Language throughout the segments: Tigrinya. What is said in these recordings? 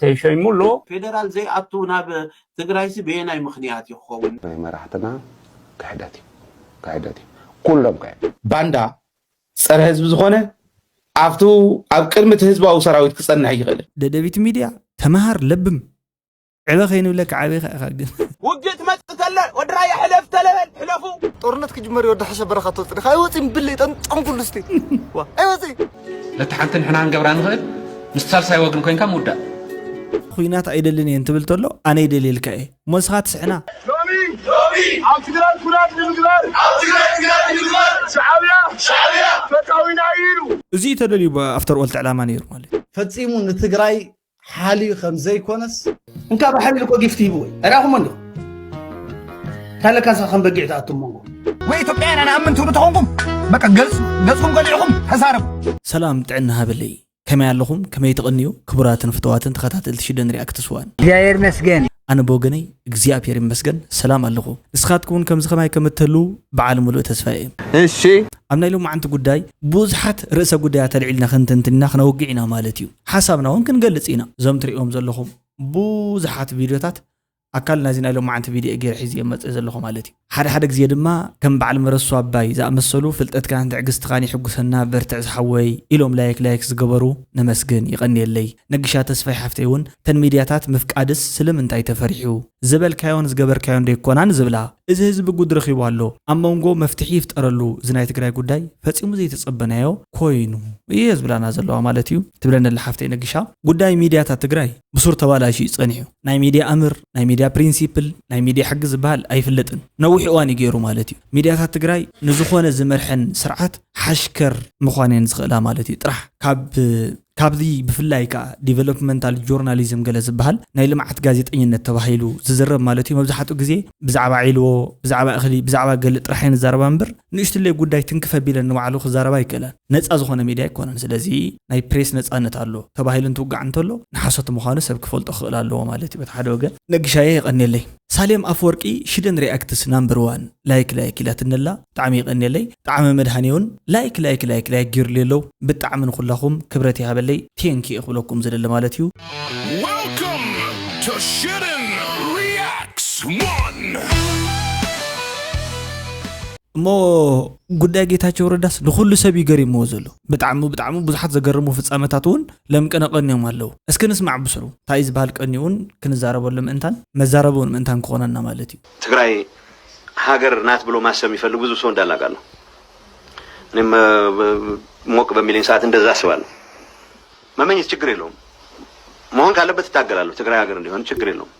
ተሾይሙ ኣሎ። ፌደራል ዘይኣቱ ናብ ትግራይሲ በየናይ ምኽንያት እዩ ክኸውን? ናይ መራሕትና ክሕደት እዩ ክሕደት እዩ ኩሎም ክሕደት። ባንዳ ፀረ ህዝቢ ዝኾነ ኣብቱ ኣብ ቅድሚ እቲ ህዝባዊ ሰራዊት ክፀንሕ ኣይኽእልን። ደደቢት ሚድያ ተመሃር ለብም። ዕበ ከይንብለካ ዓቢኻ ኢኻ ግን ውግእ ትመጽእ ተለ ወዲ ራያ ሕለፍ ተለበል ሕለፉ ጦርነት ክጅመር ወዲ ሕሸ በረኻ ትወጽእ ዲኻ ኣይወጽእን ብለይ ጠንጠንኩሉ እስቲ ዋ ኣይወጽእ ነቲ ሓንቲ ንሕና ክንገብራ ንኽእል ምስ ሳልሳይ ወግን ኮንካ ምውዳእ ኩናት ኣይደልን እየ እንትብል ተሎ ኣነ ይደልየልካ እየ እሞ እስኻ ትስሕና ሎሚ ሎሚ ኣብ ትግራይ ኩናት ንምግባር ኣብ ትግራይ ኩናት ንምግባር ሻዕብያ ሻዕብያ ፈታዊና ኢሉ እዚ'ዩ ተደልዩ ኣፍተር ኦል እቲ ዕላማ ነይሩ ማለት እዩ። ፈጺሙ ንትግራይ ሓልዩ ከም ዘይኮነስ እንካ ብሓልዩ እኮ ጊፍቲ ሂብዎ እዩ ርኣኹሞ እንዲኹም እንታይ ለካ ንስኻ ከም በጊዕ ትኣቱ መንጎ ወይ ኢትዮጵያውያን ኣነኣምን ትብሉ ተኾንኩም በቃ ገልፅ ገፅኩም ገሊዕኹም ተዛረቡ ሰላም ጥዕና ሃበለይ ከመይ ኣለኹም ከመይ ትቕንዩ ክቡራትን ፍተዋትን ተኸታተልቲ ሽደን ሪኣክትስ ዋን እግዚኣብሔር መስገን ኣነ ብወገነይ እግዚኣብሔር ይመስገን ሰላም ኣለኹ ንስኻትኩም እውን ከምዚ ከማይ ከም እትህልዉ በዓል ሙሉእ ተስፋ እየ እሺ ኣብ ናይ ሎማዓንቲ ጉዳይ ብዙሓት ርእሰ ጉዳያት ኣልዒልና ክንትንትንና ክነውግዕ ኢና ማለት እዩ ሓሳብና ውን ክንገልጽ ኢና እዞም ትርእዎም ዘለኹም ቡዙሓት ቪድዮታት ኣካል ናይዚ ናይ ሎማዓንቲ ቪድዮ እየ ጌረ ሒዝየ መጽ ዘለኹ ማለት እዩ ሓደ ሓደ ግዜ ድማ ከም ባዓል መረሱ ኣባይ ዝኣመሰሉ ፍልጠትካን ትዕግስትኻን የሕጉሰና በርትዕ ዝሓወይ ኢሎም ላይክ ላይክ ዝገበሩ ነመስግን የቀንየለይ ነግሻ ተስፋይ ሓፍተይ ውን እተን ሚድያታት ምፍቃድስ ስልምንታይ ተፈሪሑ ዝበልካዮን ዝገበርካዮን ደይኮናን ዝብላ። እዚ ህዝቢ ጉድ ረኺቡ ኣሎ ኣብ መንጎ መፍትሒ ይፍጠረሉ እዚ ናይ ትግራይ ጉዳይ ፈጺሙ ዘይተጸበናዮ ኮይኑ እየ ዝብላና ዘለዋ ማለት እዩ ትብለኒ ኣላ ሓፍተይ ነጊሻ። ጉዳይ ሚድያታት ትግራይ ብሱር ተባላሽዩ እዩ ጸኒሑ ናይ ሚድያ ኣምር ናይ ሚድያ ፕሪንሲፕል ናይ ሚድያ ሕጊ ዝበሃል ኣይፍለጥን ነዊሕ እዋን እዩ ገይሩ ማለት እዩ ሚድያታት ትግራይ ንዝኾነ ዝመርሐን ስርዓት ሓሽከር ምዃን እየን ዝኽእላ ማለት እዩ ጥራሕ ካብ ካብዚ ብፍላይ ከኣ ዲቨሎፕመንታል ጆርናሊዝም ገለ ዝበሃል ናይ ልምዓት ጋዜጠኝነት ተባሂሉ ዝዝረብ ማለት እዩ መብዛሕትኡ ግዜ ብዛዕባ ዒልዎ ብዛዕባ እኽሊ ብዛዕባ ገለ ጥራሕ እየን ዝዛረባ እምበር ንእሽትለይ ጉዳይ ትንክፍ ኣቢለን ንባዕሉ ክዛረባ ኣይክእላን ነጻ ዝኾነ ሚድያ ኣይኮነን ስለዚ ናይ ፕሬስ ነጻነት ኣሎ ተባሂሉ እንትውጋዕ እንተሎ ንሓሶት ምዃኑ ሰብ ክፈልጦ ክኽእል ኣለዎ ማለት እዩ በቲ ሓደ ወገን ነግሻየ የቐንየለይ ሳሌም ኣፍወርቂ ሽደን ሪኣክትስ ናምበር ዋን ላይክ ላይክ ኢላትኒ ኣላ ብጣዕሚ የቀንየለይ ጣዕመ መድሃኔ ውን ላይክ ላይክ ላይክ ላይክ ጌሩለይ ኣሎ ብጣዕሚ ንኩላኩም ክብረት ይሃበለይ ቴንክ እየ ክብለኩም ዝደሊ ማለት እዩ። Welcome to Shouldn Reacts One! እሞ ጉዳይ ጌታቸው ረዳስ ንኹሉ ሰብ እዩ ገሪምዎ ዘሎ ብጣዕሚ ብጣዕሚ ብዙሓት ዘገርሙ ፍፃመታት እውን ለምቅነ ቀንዮም ኣለው እስኪ ንስማዕ ብስሩ እንታይ እዩ ዝበሃል ቀንዩ እውን ክንዛረበሉ ምእንታን መዛረቢ እውን ምእንታን ክኾነና ማለት እዩ ትግራይ ሀገር ናት ብሎ ማሰብ የሚፈልግ ብዙ ሰው እንዳለ አውቃለሁ። እኔም ሞቅ በሚለኝ ሰዓት እንደዛ አስባለሁ። መመኘት ችግር የለውም። መሆን ካለበት እታገላለሁ። ትግራይ ሀገር እንዲሆን ችግር የለውም።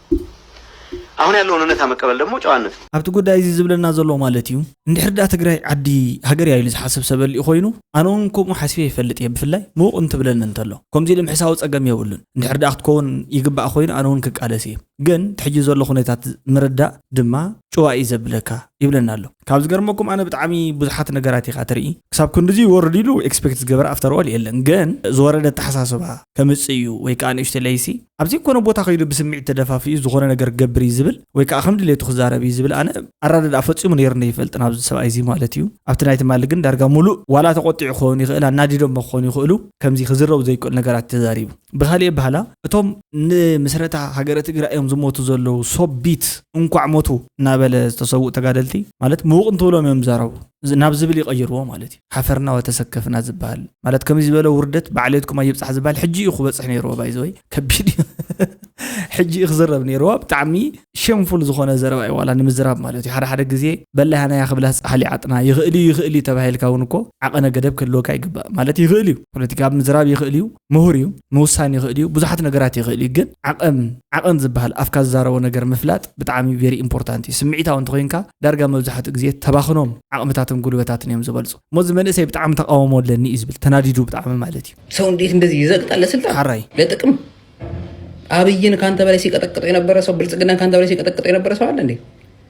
አሁን ያለውን እውነታ መቀበል ደግሞ ጨዋነት ነው። ኣብቲ ጉዳይ እዚ ዝብለና ዘሎ ማለት እዩ እንድሕር ዳ ትግራይ ዓዲ ሃገር እያ ኢሉ ዝሓስብ ሰብ ኣልኡ ኮይኑ ኣነ እውን ከምኡ ሓስበ ይፈልጥ እየ ብፍላይ ምውቕ እንትብለኒ እንተሎ ከምዚ ኢሉ ምሕሳዊ ፀገም የብሉን እንድሕር ዳ ክትከውን ይግባእ ኮይኑ ኣነ እውን ክቃለስ እየ ግን እቲ ሕጂ ዘሎ ኩነታት ምርዳእ ድማ ጭዋ እዩ ዘብለካ ይብለና ኣሎ ካብ ዝገርመኩም ኣነ ብጣዕሚ ብዙሓት ነገራት ኢኻ ትርኢ ክሳብ ክንድዚ ይወርድ ኢሉ ኤክስፔክት ዝገበረ ኣፍተር ኦል የለን ግን ዝወረደ ኣተሓሳስባ ከምጽእ እዩ ወይ ከኣ ንእሽቶ ለይሲ ኣብ ዘይኮነ ቦታ ከይዱ ብስምዒት ተደፋፊኡ ዝኾነ ነገር ክገብር እዩ ዝብል ወይ ከኣ ከም ድሌቱ ክዛረብ እዩ ዝብል ኣነ ኣረዳድኣ ፈጺሙ ነይርኒ ይፈልጥን ኣብዚ ሰብኣይ እዚ ማለት እዩ ኣብቲ ናይ ትማሊ ግን ዳርጋ ሙሉእ ዋላ ተቆጢዑ ክኸውን ይኽእል ኣናዲዶሞ ክኾኑ ይኽእሉ ከምዚ ክዝረቡ ዘይክእሉ ነገራት ተዛሪቡ ብኻሊእ ኣባህላ እቶም ንምስረታ ሃገረ ትግራይ እዮም ዝሞቱ ዘለዉ ሶቢት እንኳዕ ሞቱ እናበለ ዝተሰውኡ ተጋደልቲ ማለት ምውቕ እንትብሎም እዮም ዝዛረቡ ናብ ዝብል ይቐይርዎ ማለት እዩ ሓፈርና ወተሰከፍና ዝበሃል ማለት ከምዚ ዝበለ ውርደት ባዕሌትኩም ኣይብፃሕ ዝበሃል ሕጂ እዩ ክበፅሕ ነይርዎ ባይዘወይ ከቢድ እዩ ሕጂ እዩ ክዝረብ ነይርዎ ብጣዕሚ ሸምፉል ዝኾነ ዘረባ እዩ ዋላ ንምዝራብ ማለት እዩ ሓደ ሓደ ግዜ በላያናያ ክብላስ ፃሕሊ ዓጥና ይኽእል እዩ ይኽእል እዩ ተባሂልካ እውን እኮ ዓቐነ ገደብ ክህልወካ ይግባእ ማለት ይኽእል እዩ ፖለቲካ ምዝራብ ይኽእል እዩ ምሁር እዩ ምውሳን ይኽእል እዩ ብዙሓት ነገራት ይኽእል እዩ ግን ዓቐን ዓቐን ዝበሃል ኣፍካ ዝዛረቦ ነገር ምፍላጥ ብጣዕሚ ቬሪ ኢምፖርታንት እዩ ስምዒታዊ እንተኾይንካ ዳርጋ መብዛሕትኡ ግዜ ተባኽኖም ዓቕምታትን ጉልበታትን እዮም ዝበልፁ እሞ እዚ መንእሰይ ብጣዕሚ ተቃውሞ ኣለኒ እዩ ዝብል ተናዲዱ ብጣዕሚ ማለት እዩ ሰው እንዴት እንደዚህ ይዘግጣል ለስልጣን ሓራይ ለጥቅም አብይን ከአንተ በላይ ሲቀጠቅጠው የነበረ ሰው ብልጽግናን ከአንተ በላይ ሲቀጠቅጠው የነበረ ሰው አለ እንዴ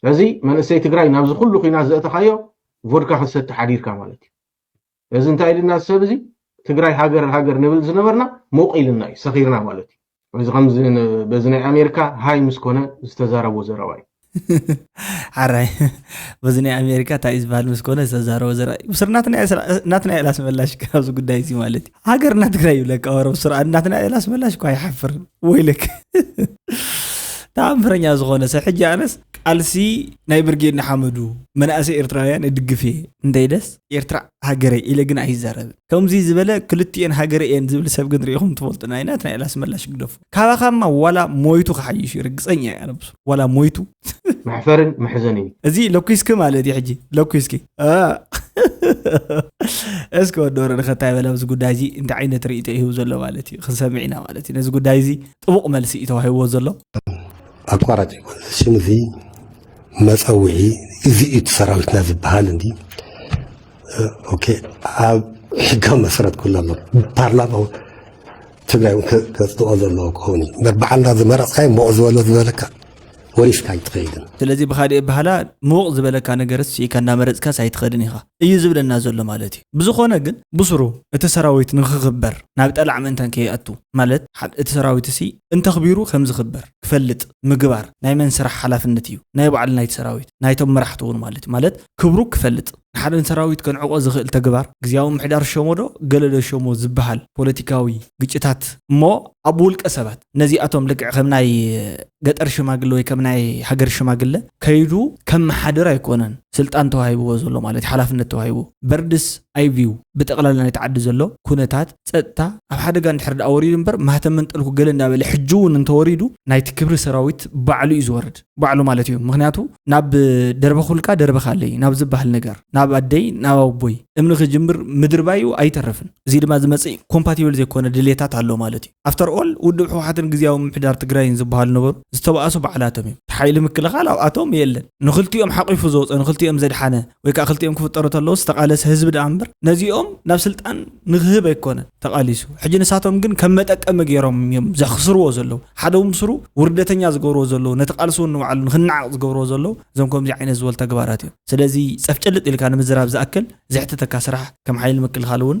ስለዚ መንእሰይ ትግራይ ናብዚ ኩሉ ኩናት ዘእተኻዮ ቮድካ ክትሰቲ ሓዲርካ ማለት እዩ እዚ እንታይ ኢልና ሰብ እዚ ትግራይ ሃገር ሃገር ንብል ዝነበርና ሞቅ ኢልና እዩ ሰኺርና ማለት እዩ እዚ ከምዚ በዚ ናይ ኣሜሪካ ሃይ ምስ ኮነ ዝተዛረቦ ዘረባ እዩ ሓራይ በዚ ናይ ኣሜሪካ እንታይ እዩ ዝበሃል ምስ ኮነ ዝተዛረቦ ዘረባ እዩ ምስሪ ናትናኤል ኣስመላሽ ኣብዚ ጉዳይ እዚ ማለት እዩ ሃገርና ትግራይ ይብለካ ወረብ ስራ እናትና ኢላ ስመላሽ እኳ ይሓፍርን ወይልክ ተኣምረኛ ዝኾነ ሰብ ሕጂ ኣነስ ቃልሲ ናይ ብርጌድ ንሓመዱ መናእሰይ ኤርትራውያን እድግፍ እየ እንታይ ደስ ኤርትራ ሃገረ ኢለ ግን ኣይዛረብን ከምዚ ዝበለ ክልቲኤን ሃገረ እየን ዝብል ሰብ ግን ሪኢኹም ትፈልጡ ናይ ናትና ኢላ ስመላሽ ግደፉ ካባኻማ ዋላ ሞይቱ ክሓይሽ እዩ ርግፀኛ እያ ነብሱ ዋላ ሞይቱ መሕፈርን መሕዘን እዩ እዚ ለኩስኪ ማለት እዩ ሕጂ ለኩስኪ እስከ ወዶሮ ንኸታይ በለ ኣብዚ ጉዳይ እዚ እንታይ ዓይነት ርእቶ ይህቡ ዘሎ ማለት እዩ ክንሰምዕ ኢና ማለት እዩ ነዚ ጉዳይ እዚ ጥቡቕ መልሲ እዩ ተዋሂብዎ ዘሎ ኣቋራጭ ይኮን ሽም እዚ መፀውዒ እዚ እዩ እቲ ሰራዊትና ዝበሃል እንዲ ኦኬ ኣብ ሕጋዊ መሰረት ኩሉ ኣሎ ፓርላማ ትግራይ እውን ከፅድቆ ዘለዎ ክኸውን እዩ በዓልና ዝመረፅካዮ ሞቕ ዝበሎ ዝበለካ ወሪስካ ኣይትኸይድን። ስለዚ ብኻሊእ ኣበሃህላ ምውቕ ዝበለካ ነገርስ ስኢካ እንዳመረጽካስ ኣይትኸድን ኢኻ እዩ ዝብለና ዘሎ ማለት እዩ። ብዝኾነ ግን ብሱሩ እቲ ሰራዊት ንኽኽበር ናብ ጠላዕ ምእንታን ከይኣቱ ማለት ሓደ እቲ ሰራዊትሲ እንተኽቢሩ ከምዝኽበር ክፈልጥ ምግባር ናይ መን ስራሕ ሓላፍነት እዩ ናይ ባዕሉ ናይቲ ሰራዊት ናይቶም መራሕቱ እውን ማለት እዩ ማለት ክብሩ ክፈልጥ ንሓደ ንሰራዊት ከንዕቆ ዝኽእል ተግባር ግዝያዊ ምምሕዳር ሸሞዶ ገለዶ ሸሞ ዝበሃል ፖለቲካዊ ግጭታት እሞ ኣብ ውልቀ ሰባት ነዚኣቶም ልክዕ ከም ናይ ገጠር ሽማግለ ወይ ከም ናይ ሃገር ሽማግለ ከይዱ ከመሓድር ኣይኮነን ስልጣን ተዋሂብዎ ዘሎ ማለት እዩ ሓላፍነት ተዋሂቡ በርድስ ኣይቪው ብጠቕላላ ናይቲ ዓዲ ዘሎ ኩነታት ፀጥታ ኣብ ሓደጋ እንድሕር ዳኣ ወሪዱ እምበር ማህተም መንጠልኩ ገለ እንዳበለ ሕጂ እውን እንተወሪዱ ናይቲ ክብሪ ሰራዊት ባዕሉ እዩ ዝወርድ ባዕሉ ማለት እዩ ምክንያቱ ናብ ደርበ ኩልካ ደርበ ካለይ ናብ ዝበሃል ነገር ናብ ኣደይ ናብ ኣቦይ እምኒ ክጅምር ምድርባይ እዩ ኣይተርፍን እዚ ድማ ዝመፅእ ኮምፓቲብል ዘይኮነ ድሌታት ኣሎ ማለት እዩ ኣፍተር ኦል ውድብ ህውሓትን ግዝያዊ ምምሕዳር ትግራይን ዝብሃሉ ነበሩ ዝተባኣሱ ባዕላቶም እዮም ሓይሊ ምክልኻል ኣብኣቶም የለን ንኽልቲኦም ሓቒፉ ዝወፀ ንኽልቲኦም ዘድሓነ ወይ ካዓ ክልቲኦም ክፍጠሩ ተለዉ ዝተቓለሰ ህዝቢ ዳኣ እምበር ነዚኦም ናብ ስልጣን ንኽህብ ኣይኮነን ተቓሊሱ ሕጂ ንሳቶም ግን ከም መጠቀሚ ገይሮም እዮም ዘኽስርዎ ዘለዉ ሓደ ውን ብስሩ ውርደተኛ ዝገብርዎ ዘለዉ ነቲ ቓልሲ ውን ንባዕሉ ንኽናዓቕ ዝገብርዎ ዘለዉ እዞም ከምዚ ዓይነት ዝበሉ ተግባራት እዮም ስለዚ ፀፍጨልጥ ኢልካ ንምዝራብ ዝኣክል ዘሕትተካ ስራሕ ከም ሓይሊ ምክልኻል ውን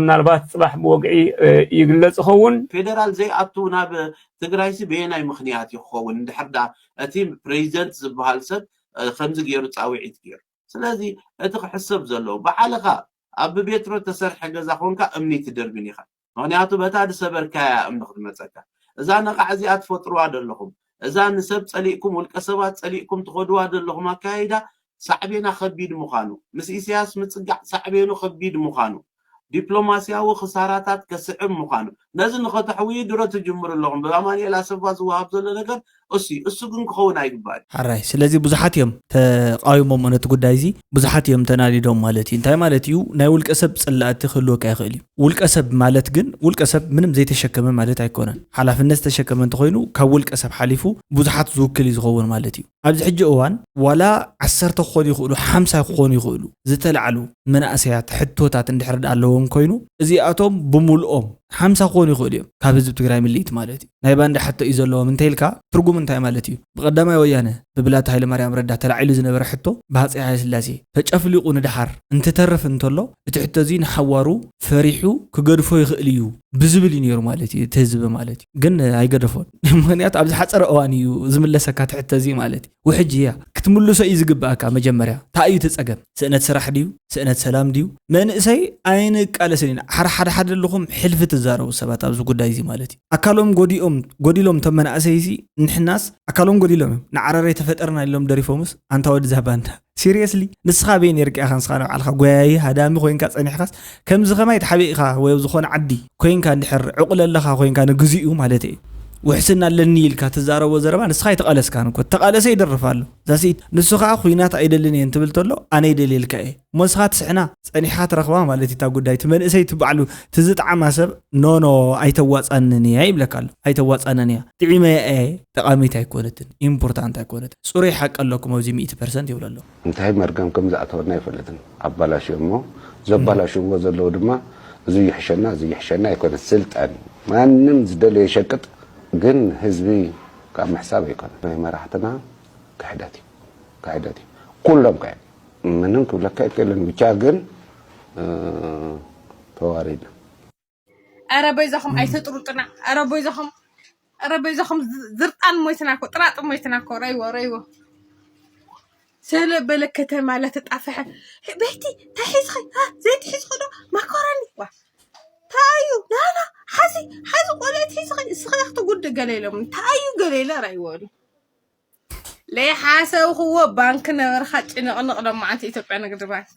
ምናልባት ፅባሕ ብወግዒ ይግለፅ ይኸውን። ፌደራል ዘይኣቱ ናብ ትግራይሲ በየናይ ምኽንያት እዩ ክኸውን እንድሕር ድኣ እቲ ፕረዚደንት ዝብሃል ሰብ ከምዚ ገይሩ ፃውዒት ገይሩ ስለዚ እቲ ክሕሰብ ዘለዎ ባዕልኻ ኣብ ብቤትሮ ዝተሰርሐ ገዛ ኮንካ እምኒ ትድርብን ኢኻ ምኽንያቱ በታ ዝሰበርካያ እያ እምኒ ክትመፀካ እዛ ነቓዕ እዚኣ ትፈጥሩዋ ዘለኹም እዛ ንሰብ ጸሊእኩም ውልቀ ሰባት ጸሊእኩም ትኸድዋ ዘለኹም ኣካያይዳ ሳዕቤና ከቢድ ምዃኑ፣ ምስ ኢሰያስ ምጽጋዕ ሳዕቤኑ ከቢድ ምዃኑ፣ ዲፕሎማስያዊ ክሳራታት ከስዕብ ምዃኑ፣ ነዚ ንኸተሕውዩ ድሮ ትጅምሩ ኣለኹም። ብኣማንኤል ኣሰፋ ዝወሃብ ዘሎ ነገር እሱ'ዩ። እሱ ግን ክኸውን ኣይግባእን። ሕራይ ስለዚ ብዙሓት እዮም ተቓዊሞሞ ነቲ ጉዳይ'ዚ። ብዙሓት እዮም ተናዲዶም ማለት እዩ እንታይ ማለት እዩ ናይ ውልቀ ሰብ ፅላእቲ ክህልወካ ይኽእል እዩ ውልቀ ሰብ ማለት ግን ውልቀ ሰብ ምንም ዘይተሸከመ ማለት ኣይኮነን ሓላፍነት ዝተሸከመ እንተኮይኑ ካብ ውልቀ ሰብ ሓሊፉ ብዙሓት ዝውክል እዩ ዝኸውን ማለት እዩ ኣብዚ ሕጂ እዋን ዋላ ዓሰርተ ክኾኑ ይኽእሉ ሓምሳ ክኾኑ ይኽእሉ ዝተላዕሉ መናእሰያት ሕቶታት እንድሕር ኣለዎም ኮይኑ እዚኣቶም ብምልኦም ሓምሳ ክኾኑ ይኽእሉ እዮም ካብ ህዝቢ ትግራይ ምልኢት ማለት እዩ ናይ ባንዳ ሕቶ እዩ ዘለዎም እንተይልካ ትርጉሙ እንታይ ማለት እዩ? ብቀዳማይ ወያነ ብብላታ ሃይለማርያም ረዳ ተላዒሉ ዝነበረ ሕቶ ብሃፀይ ሃይለስላሴ ተጨፍሊቁ ንደሓር እንትተርፍ እንተሎ እቲ ሕቶ እዙይ ንሓዋሩ ፈሪሑ ክገድፎ ይኽእል እዩ ብዝብል እዩ ነይሩ ማለት እዩ እቲ ህዝቢ ማለት እዩ ግን ኣይገደፎን ምኽንያቱ ኣብ ዝሓፀረ እዋን እዩ ዝምለሰካ እቲ ሕቶ እዙይ ማለት እዩ። ውሕጅ እያ። ክትምልሶ እዩ ዝግበኣካ መጀመርያ ታይ እዩ እቲ ፀገም ስእነት ስራሕ ድዩ ስእነት ሰላም ድዩ መንእሰይ ኣይንቃለስን ኢና ሓራ ሓደ ሓደ ኣለኹም ሕልፊ ትዛረቡ ሰባት ኣብዚ ጉዳይ እዚ ማለት እዩ ኣካሎም ጎዲኦም ጎዲሎም እቶም መናእሰይ እዚ ንሕናስ ኣካሎም ጎዲሎም እዮም ንዓራራይ ተፈጠርና ኢሎም ደሪፎምስ ኣንታ ወድዛ ባንዳ ሲርየስሊ ንስኻ ኣበይ ኔርካ ኢኻ ንስኻ ንባዕልኻ ጎያዪ ሃዳሚ ኮይንካ ጸኒሕካስ ከምዚ ከማይ ትሓበይ ኢኻ ወይ ኣብ ዝኾነ ዓዲ ኮይንካ እንድሕር ዕቑል ኣለኻ ኮይንካ ንግዚኡ ማለት እዩ ውሕስና ኣለኒ ኢልካ ትዛረቦ ዘረባ ንስኻ ኣይተቓለስካን እኮ ተቓለሰ ይደርፍ ኣሎ ዛሲ ንሱ ከዓ ኩናት ኣይደልን እየ እንትብል ተሎ ኣነ ይደልየልካ እየ እሞ ንስኻ ትስሕና ፀኒሕካ ትረኽባ ማለት እታ ጉዳይ እቲ መንእሰይ እቲ ባዕሉ ትዝጣዓማ ሰብ ኖኖ ኣይተዋፃንን እያ ይብለካ ኣሎ ኣይተዋፃንን እያ ጥዒመ እየ ጠቓሚት ኣይኮነትን ኢምፖርታንት ኣይኮነትን ጽሩይ ሓቂ ኣለኩም ኣብዚ ሚእቲ ፐርሰንት ይብሉ ኣለዉ። እንታይ መርገም ከም ዝኣተወና ኣይፈልጥን ኣባላሽዮሞ ዘባላሽውዎ ዘለዉ ድማ እዚ ይሕሸና እዚ ይሕሸና ኣይኮነን ስልጣን ማንም ዝደለዮ ይሸቅጥ ግን ህዝቢ ካብ ምሕሳብ ኣይኮነን ናይ መራሕትና ክሕደት እዩ ክሕደት እዩ ኩሎም ከ ምንም ክብለካ ኣይክእልን ብቻ ግን ተዋሪድና። ኧረ በይዛኹም ኣይተጥሩጥና። ኧረ በይዛኹም ኧረ በይዛኹም ዝ- ዝርጣን ሞይትና እኮ ጥራጥ ሞይትና እኮ ረይዎ ረይዎ ስለበለ ከተማ ለተጣፈሐ ቤቲ ታይ ሒዝኺ አ፣ ዘይቲ ሒዝኺ ዶ ማኮረኒ ዋ ታዩ ናና ሓዚ ሓዚ ቆልዕት ሒዝኺ እስኺ ክትጉድ ገለ ኢሎም ታዩ ገለ ኢለ ረይዎ ለይሓሰብኽዎ ባንክ ነበርካ ጭንቕንቕ ሎማዓንቲ ኢትዮጵያ ንግዲ ባንክ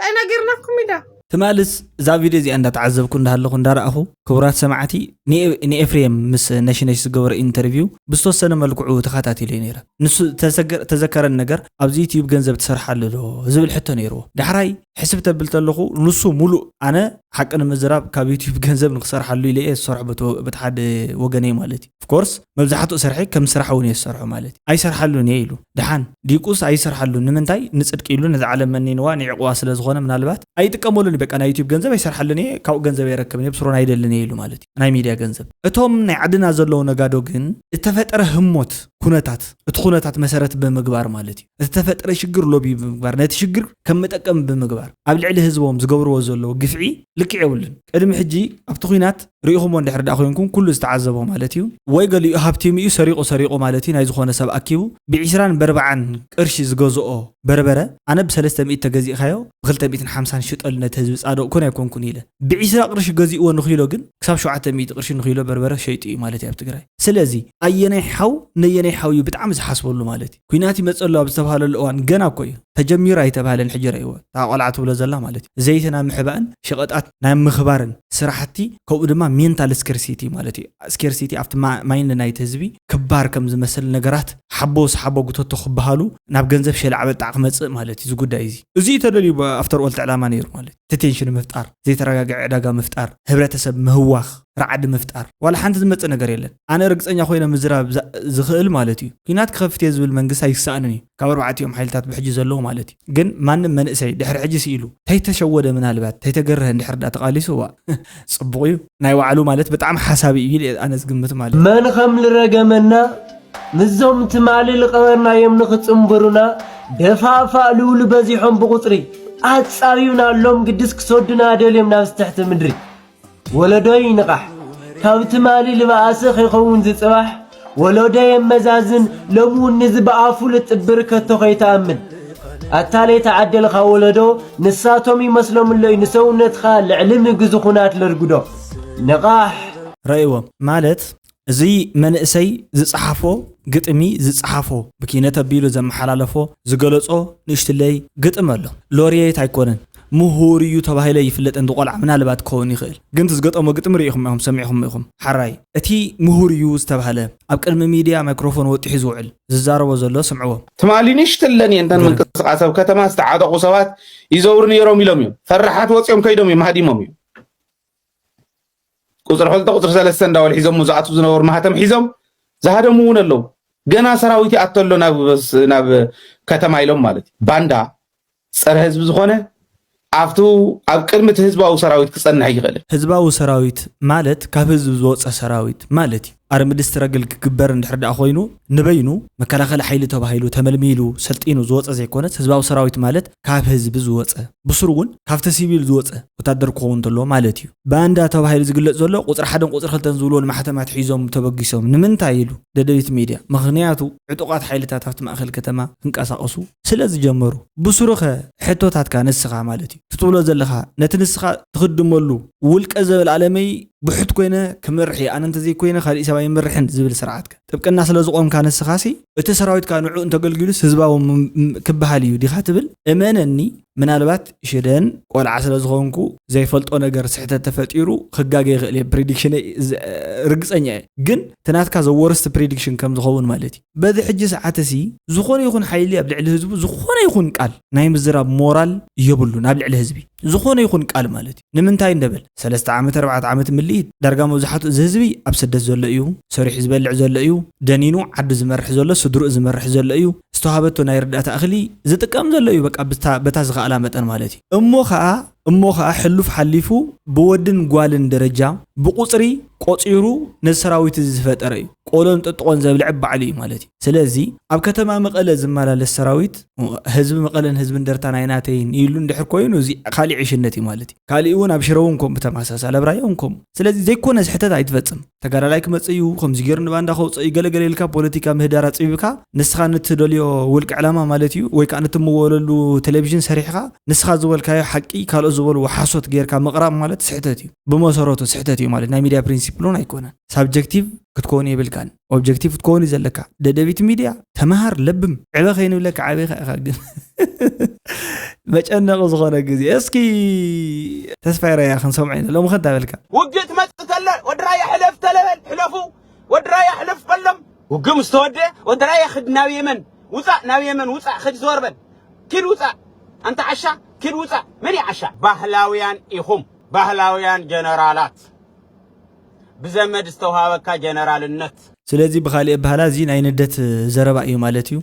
ታይ ነጊርናኩም ኢዳ። ትማልስ እዛ ቪድዮ እዚኣ እንዳ ተዓዘብኩ እንዳ ሃለኹ እንዳ ረኣኹ ክቡራት ሰማዕቲ ን ኤፍሬም ምስ ነሽነሽ ዝገበሮ ኢንተርቪው ብዝተወሰነ መልክዑ ተኻታቲለዮ ነይረ ንሱ ተዘከረኒ ነገር ኣብዚ ዩትዩብ ገንዘብ ትሰርሓሉ ዶ ዝብል ሕቶ ነይርዎ ዳሕራይ ሕስብ ተብል ተለኹ ንሱ ሙሉእ ኣነ ሓቂ ንምዝራብ ካብ ዩትዩብ ገንዘብ ንክሰርሓሉ ኢለ እየ ዝሰርሖ በቲ ሓደ ወገነይ ማለት እዩ of course መብዛሕትኡ ሰርሒ ከም ስራሕ ውን እየ ዝሰርሖ ማለት እዩ ኣይሰርሓሉን እየ ኢሉ ድሓን ዲቁስ ኣይሰርሓሉን ንምንታይ ንጽድቂ ኢሉ ነዛ ዓለም መኒንዋ ኒዕቅዋ ስለ ዝኮነ ምናልባት ኣይጥቀመሉን እዩ በቃ ናይ ዩቱብ ገንዘብ ኣይሰርሓሉን እየ ካብኡ ገንዘብ ኣይረክብን እየ ብስሩን ኣይደልን እየ ኢሉ ማለት እዩ ናይ ሚድያ ገንዘብ። እቶም ናይ ዓድና ዘለዉ ነጋዶ ግን እተፈጠረ ህሞት ኩነታት እቲ ኩነታት መሰረት ብምግባር ማለት እዩ እቲ ተፈጠረ ሽግር ሎቢ ብምግባር ነቲ ሽግር ከም መጠቀሚ ብምግባር ኣብ ልዕሊ ህዝቦም ዝገብርዎ ዘለዉ ግፍዒ ልክዕ የብሉን ቅድሚ ሕጂ ኣብቲ ኩናት ርኢኹሞ እንድሕር ድኣ ኮይንኩም ኩሉ ዝተዓዘቦ ማለት እዩ ወይ ገሊኡ ሃብቲም እዩ ሰሪቑ ሰሪቑ ማለት እዩ ናይ ዝኾነ ሰብ ኣኪቡ ብዒስራን በርብዓን ቅርሺ ዝገዝኦ በርበረ ኣነ ብሰለስተ ሚእቲ ተገዚእካዮ ብኽልተ ሚእትን ሓምሳን ሽጠሉ ነቲ ህዝቢ ጻድቕ ኮን ኣይኮንኩን ኢለ ብዒስራ ቅርሺ ገዚእዎ ንኺሎ ግን ክሳብ ሸውዓተ ሚእቲ ቅርሺ ንኺሎ በርበረ ሸይጡ እዩ ማለት እዩ ኣብ ትግራይ ስለዚ ኣየናይ ሓው ነየናይ ሓው እዩ ብጣዕሚ ዝሓስበሉ ማለት እዩ ኩናት ይመጸሉ ኣብ ዝተብሃለሉ እዋን ገና እኮ እዩ ተጀሚሩ ኣይተብሃለን ሕጂ ረእይዎ እታ ቆልዓ ትብሎ ዘላ ማለት እዩ ዘይቲ ናብ ምሕባእን ሸቐጣት ናብ ምኽባርን ስራሕቲ ከምኡ ድማ ሜንታል ስኬርሲቲ ማለት እዩ ስኬርሲቲ ኣብቲ ማይንድ ናይቲ ህዝቢ ክባር ከም ዝመስል ነገራት ሓቦ ስሓቦ ጉተቶ ክበሃሉ ናብ ገንዘብ ሸላዕ በጣዕ ክመጽእ ማለት እዩ እዚ ጉዳይ እዚ እዚ እዩ ተደልዩ ኣፍተር ኦል ዕላማ ነይሩ ማለት እዩ እቲ ቴንሽን ምፍጣር ዘይተረጋግዐ ዕዳጋ ምፍጣር ህብረተሰብ ምህዋኽ ራዕዲ ምፍጣር ዋላ ሓንቲ ዝመጽእ ነገር የለን። ኣነ ርግጸኛ ኮይነ ምዝራብ ዝኽእል ማለት እዩ ኩናት ክኸፍት እየ ዝብል መንግስቲ ኣይሳኣንን እዩ ካብ ኣርባዕቲኦም ሓይልታት ብሕጂ ዘለዉ ማለት እዩ ግን ማንም መንእሰይ ድሕሪ ሕጂ ሲኢሉ ተይተሸወደ ምናልባት ተይተገረሀ እንድሕር ድኣ ተቃሊሱ ዋእ ጽቡቅ እዩ ናይ ባዕሉ ማለት ብጣዕሚ ሓሳቢ እዩ ኢለ ኣነ ዝግምት ማለት እዩ። መን ኸም ልረገመና ምስዞም ትማሊ ልቀበርናዮም ንኽጽንብሩና ደፋእፋእ ልብሉ በዚሖም ብቁጽሪ ኣጻብዩና ኣሎም ግድስ ክሰዱና ደልዮም ናብዚ ትሕቲ ምድሪ ወለዶይ ንቓሕ ካብ ትማሊ ልባኣሲ ከይከውን ዝጽባሕ ወሎዶ የመዛዝን ሎሚ ውን ንዚ ብኣፉ ልጥብር ከቶ ከይትኣምን ኣታ ለይተዓደልኻ ወለዶ ንሳቶም ይመስሎምሎይ ንሰውነትኻ ልዕሊ ምግዚ ኹናት ለርግዶ ንቓሕ ረእዎ ማለት እዚ መንእሰይ ዝጸሓፎ ግጥሚ ዝጸሓፎ ብኪነት ኣቢሉ ዘመሓላለፎ ዝገለጾ ንእሽትለይ ግጥሚ ኣሎ ሎርየት ኣይኮነን ምሁር እዩ ተባሂለ ይፍለጥ እንድ ቆልዓ ምናልባት ክኸውን ይኽእል ግን እቲ ዝገጠሞ ግጥሚ ሪኢኹም ኢኹም ሰሚዕኹም ኢኹም ሓራይ እቲ ምሁር እዩ ዝተባህለ ኣብ ቅድሚ ሚድያ ማይክሮፎን ወጢሑ ዝውዕል ዝዛረቦ ዘሎ ስምዕዎ ትማሊ ንእሽትለን እየን እተን ምንቅስቓስ ኣብ ከተማ ዝተዓጠቑ ሰባት ይዘውሩ ነይሮም ኢሎም እዮም ፈራሓት ወፂኦም ከይዶም እዮም ሃዲሞም እዮም ቁፅሪ ሕልተ ቁፅሪ ሰለስተ እንዳበሉ ሒዞሞ ዝኣትው ዝነበሩ ማህተም ሒዞም ዝሃደሙ እውን ኣለው ገና ሰራዊት ይኣቶ ኣሎ ናብ ከተማ ኢሎም ማለት እዩ ባንዳ ፀረ ህዝቢ ዝኾነ ኣብቲ ኣብ ቅድሚ እቲ ህዝባዊ ሰራዊት ክፀንሕ ኣይኽእልን ህዝባዊ ሰራዊት ማለት ካብ ህዝቢ ዝወፀ ሰራዊት ማለት እዩ ኣርምድስትረግል ክግበር እንድሕር ድኣ ኮይኑ ንበይኑ መከላኸሊ ሓይሊ ተባሂሉ ተመልሚሉ ሰልጢኑ ዝወፀ ዘይኮነስ ህዝባዊ ሰራዊት ማለት ካብ ህዝቢ ዝወፀ ብሱሩ እውን ካብቲ ሲቪል ዝወፀ ወታደር ክኸውን ተለዎ ማለት እዩ። ባንዳ ተባሂሉ ዝግለፅ ዘሎ ቁፅሪ ሓደን ቁፅሪ ክልተን ዝብልዎ ንማሕተማት ሒዞም ተበጊሶም ንምንታይ ኢሉ ደደቢት ሚድያ ምኽንያቱ ዕጡቓት ሓይልታት ኣብቲ ማእኸል ከተማ ክንቀሳቐሱ ስለ ዝጀመሩ ብሱሩኸ ሕቶታትካ ንስኻ ማለት እዩ ትትብሎ ዘለኻ ነቲ ንስኻ ትኽድመሉ ውልቀ ዘበለኣለመይ ብሑት ኮይነ ክመርሕ እየ ኣነ እንተዘይኮይነ ካሊእ ሰብ ኣይመርሕን ዝብል ስርዓትከ ጥብቅና ስለዝቆምካ ንስካሲ እቲ ሰራዊትካ ንዕኡ እንተገልጊሉስ ህዝባዊ ክበሃል እዩ ዲካ ትብል እመነኒ ምናልባት ሽደን ቆልዓ ስለዝኮንኩ ዘይፈልጦ ነገር ስሕተት ተፈጢሩ ክጋገ ይክእል እየ ፕሪዲክሽነይ ርግፀኛ እየ ግን ትናትካ ዘወርስቲ ፕሪዲክሽን ከምዝኸውን ማለት እዩ በዚ ሕጂ ሰዓትሲ ዝኾነ ይኹን ሓይሊ ኣብ ልዕሊ ህዝቡ ዝኾነ ይኹን ቃል ናይ ምዝራብ ሞራል የብሉን ኣብ ልዕሊ ህዝቢ ዝኾነ ይኹን ቃል ማለት እዩ ንምንታይ እንብል ሰለስተ ዓመት ኣርባዕተ ዓመት ምልኢት ዳርጋ መብዛሕትኡ እዚ ህዝቢ ኣብ ስደት ዘሎ እዩ ሰሪሑ ዝበልዕ ዘሎ እዩ ደኒኑ ዓዱ ዝመርሕ ዘሎ ስድርኡ ዝመርሕ ዘሎ እዩ ዝተውሃበቶ ናይ ርዳእታ እኽሊ ዝጥቀም ዘሎ እዩ በቃ በታ ዝኸኣላ መጠን ማለት እዩ እሞ ኸኣ እሞ ኸኣ ሕሉፍ ሓሊፉ ብወድን ጓልን ደረጃ ብቁጽሪ ቆጺሩ ነዚ ሰራዊት እዚ ዝፈጠረ እዩ። ቆሎን ጥጥቖን ዘብልዕ ባዕሉ እዩ ማለት እዩ። ስለዚ ኣብ ከተማ መቐለ ዝመላለስ ሰራዊት ህዝቢ መቐለን ህዝቢ እንደርታን ኣይናተይን ኢሉ እንድሕር ኮይኑ እዚ ካሊእ ዕሽነት እዩ ማለት እዩ። ካሊእ እውን ኣብ ሽረ እውን ከምኡ ብተመሳሳሊ ኣብ ራያ እውን ከምኡ። ስለዚ ዘይኮነ ስሕተት ኣይትፈፅም። ተጋዳላይ ክመፅእ እዩ ከምዚ ገይሩ ንባንዳ ከውፅኦ እዩ ገለ ገለ ኢልካ ፖለቲካ ምህዳር ኣፅቢብካ ንስኻ ንትደልዮ ውልቀ ዕላማ ማለት እዩ ወይ ከዓ ንትምወለሉ ቴሌቪዥን ሰሪሕኻ ንስኻ ዝበልካዮ ሓቂ ካልኦት ዝበልዎ ሓሶት ገይርካ ምቕራብ ማለት ስሕተት እዩ። ብመሰረቱ ስሕተት እዩ ማለት ናይ ሚድያ ፕሪንሲፕል እውን ኣይኮነን። ሳብጀክቲቭ ክትኮውን የብልካን ኦብጀክቲቭ ክትኮውን እዩ ዘለካ ደደቢት ሚድያ ተምሃር ለብም ዕበ ከይንብለካ ዓበይካ ኢኻ ግን መጨነቂ ዝኾነ ግዜ እስኪ ተስፋይ ራያ ክንሰምዖ ኢና ሎሚ ከንታ በልካ ውግእ ትመፅእ ተለ ወዲ ራያ ሕለፍ ተለበል ሕለፉ ወዲ ራያ ሕለፍ በሎም ውግእ ምስ ተወድአ ወዲ ራያ ክድ ናብ የመን ውፃእ ናብ የመን ውፃእ ክድ ዘወር በል ኪድ ውፃእ ኣንተ ዓሻ ኪድ ውፃእ መን እዩ ዓሻ ባህላውያን ኢኹም ባህላውያን ጀነራላት ብዘመድ ዝተውሃበካ ጀነራልነት። ስለዚ ብኻሊእ ኣበሃህላ እዚ ናይ ንደት ዘረባ ኢዩ ማለት ኢዩ።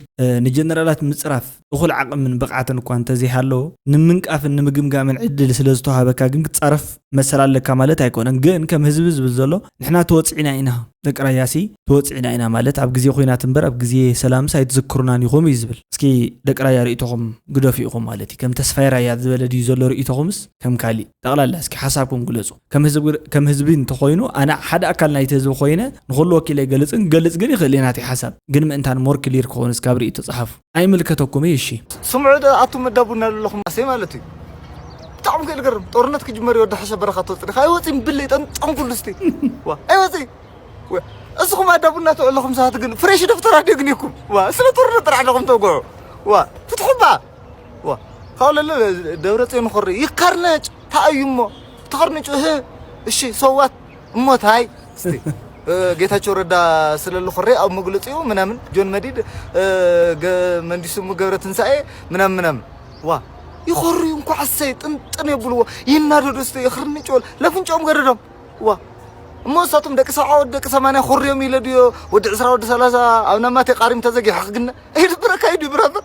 ንጀነራላት ምጽራፍ እኹል ዓቕምን ብቕዓትን እኳ እንተዘይሃለዎ፣ ንምንቃፍን ንምግምጋምን ዕድል ስለዝተውሃበካ ግን ክትጻረፍ መሰል ኣለካ ማለት ኣይኮነን። ግን ከም ህዝቢ ዝብል ዘሎ ንሕና ተወጺዕና ኢና፣ ደቂ ራያሲ ተወጺዕና ኢና ማለት ኣብ ግዜ ኩናት እምበር ኣብ ግዜ ሰላምስ ኣይትዝክሩናን ኢኹም ኢዩ ዝብል። እስኪ ደቂ ራያ ርእይቶኹም ግደፉ ኢኹም ማለት ኢዩ። ከም ተስፋይ ራያ ዝበለ ድዩ ዘሎ ርእይቶኹምስ? ከም ካሊእ ጠቕላላ እስኪ ሓሳብኩም ግለፁ። ከም ህዝቢ ከም ህዝቢ እንተኾይኑ ኣነ ሓደ ኣካል ናይቲ ህዝቢ ኮይነ ንኹሉ ወኪለ ኣይገልፅን ክገልፅ ግን ይኽእል እየ ናተይ ሓሳብ ግን ምእንታን ሞር ክሊር ክኾን እስካብ ሪኢቶ ፀሓፉ ኣይምልከተኩም እዩ እሺ። ስምዑ ዶ ኣቱም መዳቡ እናለለኹም ኣሰይ ማለት እዩ ብጣዕሚ ክእል ገርም ጦርነት ክጅመር ይወዲ ሓሸ በረኻ ትወፅእ ዲኻ ኣይወፅእን ብለይ ጠንጠን ኩሉ ስቲ ዋ ኣይወፅእን እስኹም ኣዳቡ እናተውዕለኹም ሰባት ግን ፍሬሽ ደፍተር ኣድዮ ግን ይኩም ዋ ስለ ጦርነት ጥራሕ ኣለኹም ተውግዑ ዋ ፍትሑ እባ ካለ ደብረፅዮን ኾሪ ይከርነጭ ታእዩ እሞ ተኸርንጩ እህ እሺ ሰዋት እሞ ታይ እስቲ ጌታቸው ረዳ ስለሉ ኾሬ ኣብ መግለፂኡ ምናምን ጆን መዲድ መንዲሱ ገብረ ትንሳኤ ምናምን ምናምን ዋ ይኾርዩ እንኳ ሕሰይ ጥንጥን የብልዎ ይናደዱ እስቲ ይኽርንጭ ወል ለፍንጮም ገደዶም ዋ እሞ እሳቶም ደቂ ሰብዓ ወዲ ደቂ ሰማንያ ኾርዮም ኢለ ድዮ ወዲ ዕስራ ወዲ ሰላሳ ኣብ ናማቴ ቃሪም ተዘጊሑ ክግነ ይድብረካ ይድብረበር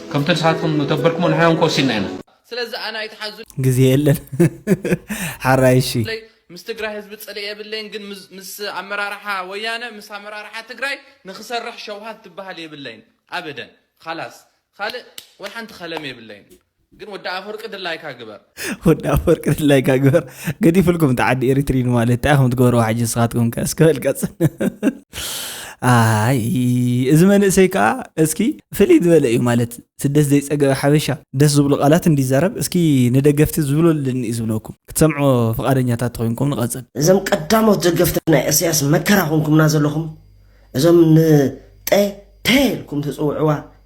ከምቲ ንስኻትኩም ንተበርክሞ ንሕና እውን ከወሲንና ኢና። ስለዚ ኣነ ኣይትሓዙለይ። ግዜ የለን ሓራይ እሺ። ምስ ትግራይ ህዝቢ ፅልኢ የብለይን ግን ምስ ኣመራርሓ ወያነ ምስ ኣመራርሓ ትግራይ ንክሰርሕ ሸውሃት ትበሃል የብለይን ኣበደን ኻላስ ኻልእ ወይ ሓንቲ ኸለሜ የብለይን ግን ወዲ ኣፈወርቂ ድላይካ ግበር። ወዲ ኣፈወርቂ ድላይ ካ ግበር ገዲፍልኩም እቲ ዓዲ ኤሪትሪን ማለት እንታይ ከም ትገብርዎ ሓጂ ንስኻትኩም ከ እስከ በልቀፅን ኣይ እዚ መንእሰይ ከዓ እስኪ ፍልይ ዝበለ እዩ ማለት ስደት ዘይፀገበ ሓበሻ ደስ ዝብሉ ቃላት እንዲዛረብ እስኪ ንደገፍቲ ዝብሎ ኣለኒ እዩ ዝብለኩም ክትሰምዖ ፍቃደኛታት ተኮይንኩም ንቐፅል እዞም ቀዳሞት ደገፍቲ ናይ እሰያስ መከራ ኮንኩምና ዘለኹም እዞም ንጠ ፐ ኢልኩም ትፅውዕዋ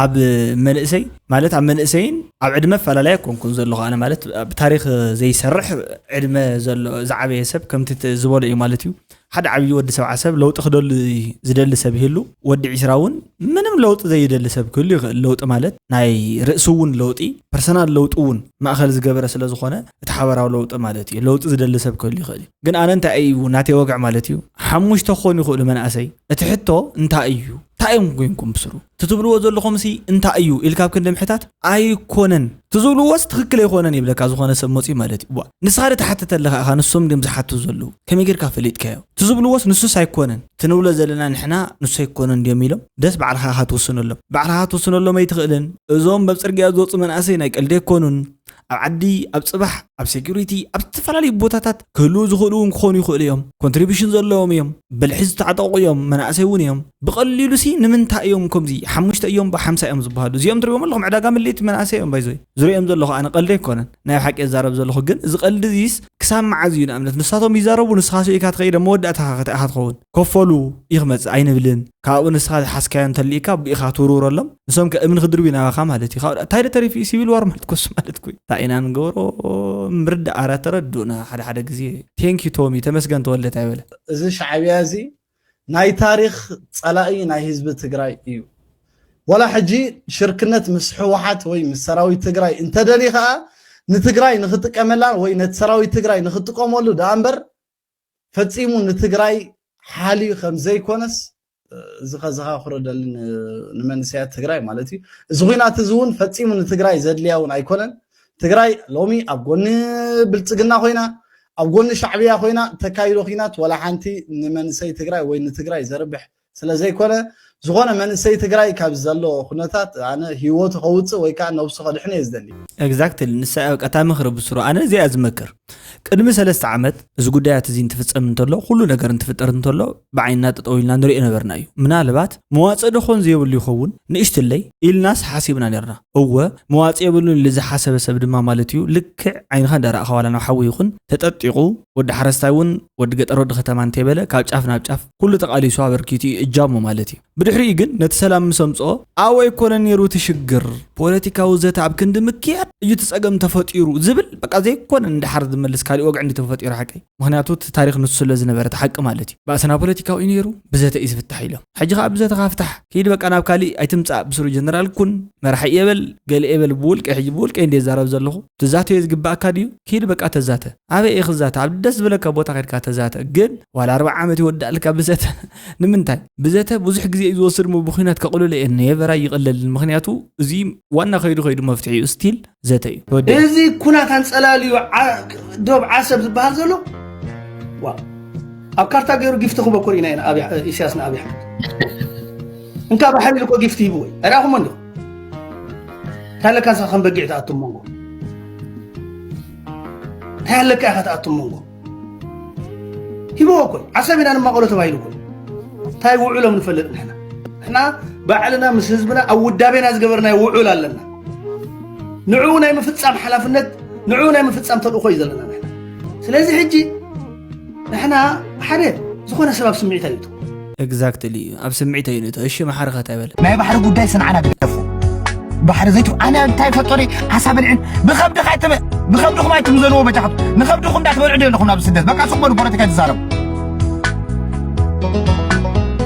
ኣብ መንእሰይ ማለት ኣብ መንእሰይን ኣብ ዕድመ ኣፈላለይ ኣይኮንኩን ዘለኹ ኣነ ማለት ኣብ ታሪክ ዘይሰርሕ ዕድመ ዘሎ ዝዓበየ ሰብ ከምቲ ዝበሎ እዩ ማለት እዩ ሓደ ዓብዪ ወዲ ሰብዓ ሰብ ለውጢ ክደሉ ዝደሊ ሰብ ይህሉ ወዲ ዒስራ እውን ምንም ለውጢ ዘይደሊ ሰብ ክህሉ ይኽእል ለውጢ ማለት ናይ ርእሲ እውን ለውጢ ፐርሰናል ለውጢ እውን ማእኸል ዝገበረ ስለ ዝኾነ እቲ ሓበራዊ ለውጢ ማለት እዩ ለውጢ ዝደሊ ሰብ ክህሉ ይኽእል እዩ ግን ኣነ እንታይ እዩ ናተይ ወግዕ ማለት እዩ ሓሙሽተ ክኾኑ ይኽእሉ መናእሰይ እቲ ሕቶ እንታይ እዩ ታይ እዮም ጎይንኩም ብስሩ ትትብልዎ ዘለኹምሲ እንታይ እዩ ኢልካ ኣብ ክንዲ ምሕታት ኣይኮነን ትዝብልዎስ ትክክል ኣይኮነን ይብለካ ዝኾነ ሰብ መፅዩ ማለት እዩ ዋ ንስኻ ትሓትት ኣለኻ ኢኻ ንሶም ድም ዝሓቱ ዘለዉ ከመይ ጌርካ ፈሊጥካዮ ትዝብልዎስ ንሱስ ኣይኮነን ትንብሎ ዘለና ንሕና ንሱ ኣይኮነን ድዮም ኢሎም ደስ ባዕልኻ ኢኻ ትውስነሎም ባዕልኻ ክትውስነሎም ኣይትኽእልን እዞም በብ ፅርግያ ዝወፁ መናእሰይ ናይ ቀልዲ ኣይኮኑን ኣብ ዓዲ ኣብ ፅባሕ ኣብ ሴኩሪቲ ኣብ ዝተፈላለዩ ቦታታት ክህልው ዝኽእሉ እውን ክኾኑ ይኽእሉ እዮም ኮንትሪቢሽን ዘለዎም እዮም ብልሒ ዝተዓጠቑ እዮም መናእሰይ እውን እዮም ብቐሊሉ ሲ ንምንታይ እዮም ከምዚ ሓሙሽተ እዮም ብሓምሳ እዮም ዝበሃሉ እዚኦም ትሪእዎም ኣለኹም ዕዳጋ ምልኢት መናእሰይ እዮም ባይዞይ ዝሪኦም ዘለኹ ኣነ ቀልዲ ኣይኮነን ናይ ሓቂ የዛረብ ዘለኹ ግን እዚ ቀልዲ እዚስ ክሳብ መዓዝ እዩ ንኣብነት ንሳቶም ይዛረቡ ንስኻ ስኢካ ትኸይደ መወዳእታኻ ከታይ ኢኻ ትኸውን ከፈሉ እዩ ክመጽእ ኣይንብልን ካብኡ ንስኻ ዝሓዝካዮ እንተሊኢካ ቢኢኻ ትውርውረሎም ንሶም ከ እምኒ ክድርብዩ ናባኻ ማለት እዩ ካብኡ እንታይ ዶ ተሪፉ እዩ ሲቪል ዋር ማለት ኮሱ ማለት ኩይ እንታይ ኢና ንገብሮ ምርዳእ ኣረ ተረድኡና ሓደ ሓደ ግዜ ቴንክ ዩ ቶሚ ተመስገን ተወልደ ታይ በለ እዚ ሻዕብያ እዚ ናይ ታሪኽ ጸላኢ ናይ ህዝቢ ትግራይ እዩ ወላ ሕጂ ሽርክነት ምስ ሕወሓት ወይ ምስ ሰራዊት ትግራይ እንተደልዩ ከኣ ንትግራይ ንክጥቀመላ ወይ ነቲ ሰራዊት ትግራይ ንክጥቀመሉ ደኣ እምበር ፈጺሙ ንትግራይ ሓልዩ ከም ዘይኮነስ እዚ ከዘኻኽሮ ደሊ ንመንእሰያት ትግራይ ማለት እዩ እዚ ኩናት እዚ እውን ፈፂሙ ንትግራይ ዘድልያ እውን ኣይኮነን ትግራይ ሎሚ ኣብ ጎኒ ብልፅግና ኮይና ኣብ ጎኒ ሻዕብያ ኮይና ተካይዶ ኩናት ወላ ሓንቲ ንመንእሰይ ትግራይ ወይ ንትግራይ ዘርብሕ ስለ ዘይኮነ ዝኾነ መንእሰይ ትግራይ ካብ ዘሎ ኩነታት ኣነ ሂወቱ ከውጽእ ወይ ከኣ ነብሱ ከድሕን እየ ዝደሊ። Exactly ንሳ እያ በቃ እታ ምኽሪ ብስሩ ኣነ እዚኣ እየ ዝመክር ቅድሚ ሰለስተ ዓመት እዚ ጉዳያት እዚ እንትፍጸም እንተሎ ኩሉ ነገር እንትፍጠር እንተሎ ብዓይንና ጠጠው ኢልና ንሪኦ ነበርና እዩ ምናልባት መዋጽእ ዶ ኮን ዘየብሉ ይኸውን ንእሽትለይ ኢልናስ ሓሲብና ኔርና እወ መዋጽእ የብሉን ኢሉ ዝሓሰበ ሰብ ድማ ማለት እዩ ልክዕ ዓይንኻ እንዳረኣኻ ዋላ ናብ ሓዊ ይኹን ተጠጢቑ ወዲ ሓረስታይ እውን ወዲ ገጠር ወዲ ከተማ እንተይበለ ካብ ጫፍ ናብ ጫፍ ኩሉ ተቓሊሱ ኣበርኪቱ እዩ እጃሙ ማለት እዩ። ብድሕሪኡ ግን ነቲ ሰላም ምስ ኣምጽኦ ኣብኡ ኣይኮነን ነይሩ እቲ ሽግር፣ ፖለቲካዊ ዘተ ኣብ ክንዲ ምክያድ እዩ እቲ ጸገም ተፈጢሩ ዝብል በቃ ዘይኮነ ንደሓር ዝመልስ ካሊእ ወግዒ እንድዩ ተፈጢሩ ሓቀይ። ምኽንያቱ እቲ ታሪኽ ንሱ ስለ ዝነበረ እቲ ሓቂ ማለት እዩ። ባእስና ፖለቲካዊ እዩ ነይሩ ብዘተ እዩ ዝፍታሕ ኢሎም። ሕጂ ከኣ ብዘተኻ ፍታሕ ክይድ በቃ ናብ ካሊእ ኣይትምጻእ ብስሩ ጀነራል ኩን፣ መራሒ እየ በል፣ ገለ እየ በል ብውልቀይ ሕጂ ብውልቀይ እንድየ ዝዛረብ ዘለኹ። ትዛተዮ ዝግበኣካ ድዩ ኪድ በቃ ተዛተ ኣበይ እዪ ክዛተ ኣብ ደስ ዝበለካ ቦታ ከድካ ተዛተ ግን ዋላ ኣርብዓ ዓመት ይወዳኣልካ ብዘተ ንምንታይ ብዘተ ብዙሕ ግዜ እዩ ዝወስድ እሞ ብኩናት ከቅልሎ እየን ኔቨር ኣይቅለልን ምክንያቱ እዚ ዋና ከይዱ ከይዱ መፍትሒ እዩ ስቲል ዘተ እዩ ተወዲኡ እዚ ኩናት ኣንጸላልዩ ዶብ ዓሰብ ዝበሃል ዘሎ ዋ ኣብ ካርታ ገይሩ ጊፍቲ ክበኩር ኢና ኢና ኢሳያስ ንኣብይ ኣሕመድ እንካ ባሕሪ ኢሉ እኮ ጊፍቲ ሂብዎ እዩ ኣይረኣኹሞ እንዲኹም እንታይ ኣለካ ንስኻ ከም በጊዕ ትኣቱ መንጎ እንታይ ኣለካ ኢኻ ትኣቱ መንጎ ሂበዎ ኮይ ዓሰብ ኢና ንማቐሎ ተባሂሉ ኮይ እንታይ ውዕሎም ንፈልጥ ንሕና ንሕና ባዕልና ምስ ህዝብና ኣብ ውዳቤና ዝገበርናዮ ውዑል ኣለና ንዕኡ ናይ ምፍፃም ሓላፍነት ንዕኡ ናይ ምፍፃም ተልእኾ እዩ ዘለና ንሕና ስለዚ ሕጂ ንሕና ሓደ ዝኾነ ሰብ ኣብ ስምዒት ኣይእቱ ኤግዛክትሊ እዩ ኣብ ስምዒት እዩ ንእቶ እሺ መሓርኸ እንታይ በለ ናይ ባሕሪ ጉዳይ ስንዓና ግደፉ ባሕሪ ዘይቱ ኣነ እንታይ ፈጦሪ ዓሳ በልዕን ብኸብድኻ ኣይትመ ብኸብድኹም ኣይትም ዘለዎ በጃኻቱ ንኸብድኹም እንዳትበልዑ ዶ ኣለኹም ናብ ስደት በቃ ሱቅ በሉ ፖለቲካ ይትዛረቡ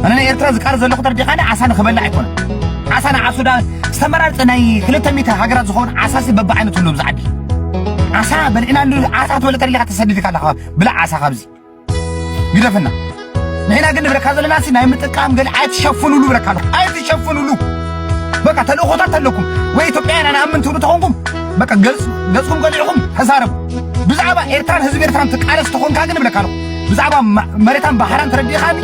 ኣነ ናይ ኤርትራ ዝቃር ዘለኹ ተርዲኻኒ ዓሳ ንኽበልዕ ኣይኮነ ዓሳ ንዓሱ ዳ ዝተመራርፀ ናይ ክልተ ሚእቲ ሃገራት ዝኸውን ዓሳሲ በብዓይነቱ ኣለዎ ብዛዓዲ ዓሳ በልዕና እንዲ ዓሳ ትበልዕ ተደሊኻ ተሰዲድካ ኣለኻ ብላዕ ዓሳ ካብዚ ግደፍና ንሕና ግን ንብለካ ዘለና ሲ ናይ ምጥቃም ገለ ኣይትሸፍኑሉ ብለካ ኣለኹ ኣይትሸፍኑሉ በቃ ተልእኾታት ኣለኩም ወይ ኢትዮጵያውያን ኣነኣምን ትብሉ ተኾንኩም በቃ ገጽኩም ቀሊዕኹም ተዛረቡ ብዛዕባ ኤርትራን ህዝቢ ኤርትራን ትቃለስ ተኾንካ ግን ብለካ ኣለኹ ብዛዕባ መሬታን ባሕራን ተረዲእኻኒ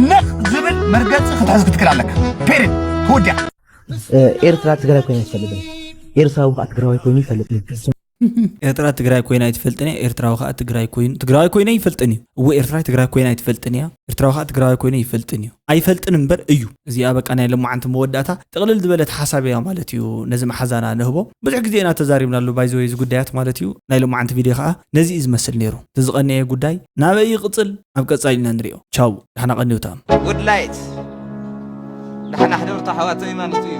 ነኽ ዝብል መርገፂ ክትሕዝ ክትክል ኣለካ ፔሬድ ተወዲያ ኤርትራ ትግራይ ኮይና ይፈልጥ ኤርትራዊ ከዓ ትግራዋይ ኮይኑ ይፈልጥ ኤርትራ ትግራይ ኮይና ኣይትፈልጥን እያ ኤርትራዊ ከዓ ትግራይ ኮይኑ ትግራዋይ ኮይነ ይፈልጥን እዩ እወ ኤርትራ ትግራይ ኮይና ኣይትፈልጥን እያ ኤርትራዊ ከዓ ትግራዋይ ኮይኑ ይፈልጥን እዩ ኣይፈልጥን እምበር እዩ እዚኣ በቃ ናይ ለማዓንቲ መወዳእታ ጥቕልል ዝበለት ሓሳብ እያ ማለት እዩ ነዚ መሓዛና ንህቦ ብዙሕ ግዜ ኢና ተዛሪብናሉ ባይዘወይ እዚ ጉዳያት ማለት እዩ ናይ ለማዓንቲ ቪድዮ ከዓ ነዚ እዩ ዝመስል ነይሩ እቲ ዝቐነየ ጉዳይ ናበይ ይቕፅል ኣብ ቀጻሊ ኢና ንሪኦ ቻው ዳሕና ቀንዮታ። Woodlight ዳሕና ሕደሩታ ኣሕዋተይ ማለቱ እዩ።